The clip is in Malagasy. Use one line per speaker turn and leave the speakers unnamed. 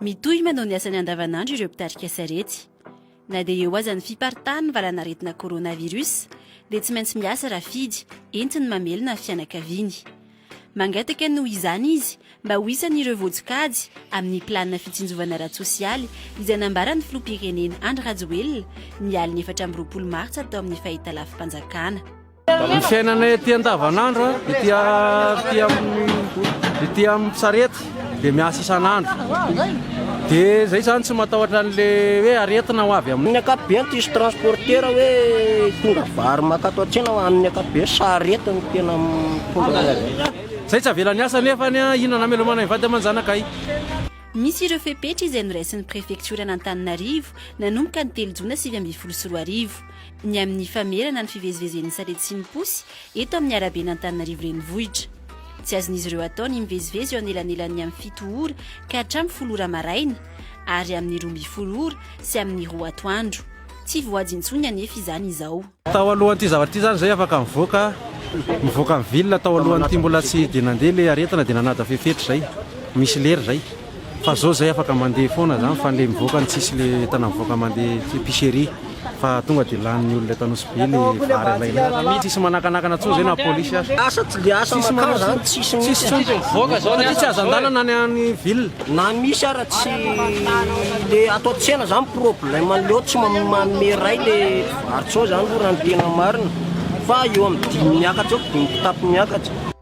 Mitohy manao ny asany andavanandro ireo mpitarika sarety. Na dia eo aza ny fiparitahan' ny valan'aretina coronavirus dia tsy maintsy miasa raha fidy entiny mamelona ny fianakaviany. Mangataka noho izany izy mba ho isan' ireo voajokajy amin'ny planina fitsinjovana ara-tsosialy izay nambaran'ny filoham-pirenena Andry Rajoelina ny alin'ny efatra amby roapolo martsa tao amin'ny fahitalavi-panjakana. Ny
fiainana ety andavanandro, ety ety amin'ny ety amin'ny sarety dia miasa isan'andro. Dia izay izany tsy matahotra an'ilay hoe aretina ho avy amin'ny. Ny ankapobeny tsisy
transportera hoe hitondra vary mankato an-tsena fa amin'ny ankapobeny sarety no tena mitondra azy. Izay tsy
avela niasa nefa an, inona no hamelomana ny vady aman-janakay? Misy
ireo fepetra izay noraisin'ny prefektioran'Antananarivo nanomboka ny telo jona sivy ambin'ny folo sy roa arivo. ny amin'ny famerana ny fivezivezen'ny sarety sy ny posy eto amin'ny araben'Antananarivo Renivohitra. Tsy azon'izy ireo atao ny mivezivezy eo anelanelan'ny amin'ny fito ora ka hatramin'ny folo ora maraina ary amin'ny roa ambin'ny folo ora sy amin'ny roa atoandro. Tsy voady intsony anefa izany izao. Tao alohan'ity zavatra
ity izany izay afaka nivoaka nivoaka ny ville tao alohan'ity mbola tsy dia nandeha ilay aretina dia nanada fepetra izay. Misy lera izay. Fa zao zay afaka mandeha foana zany fa le mivoaka ny tsisy le entana mivoaka mandeha epicerie fa tonga de lanin'ny olona eto Anosibe le vary alainao. Tsisy manakanakana tsony zay na police aza. Asa tsy de asa
makany zany tsisy mihitsy. Tsisy tsony mivoaka zao
satria tsy azo andalana any any ville. Na misy ara tsy
le ato an-tsena zany problème anle oe tsy manome iray le vary tsony zany lo raha ny tena marina fa eo amin'ny dimy miakatra eo, dimy kitapo miakatra.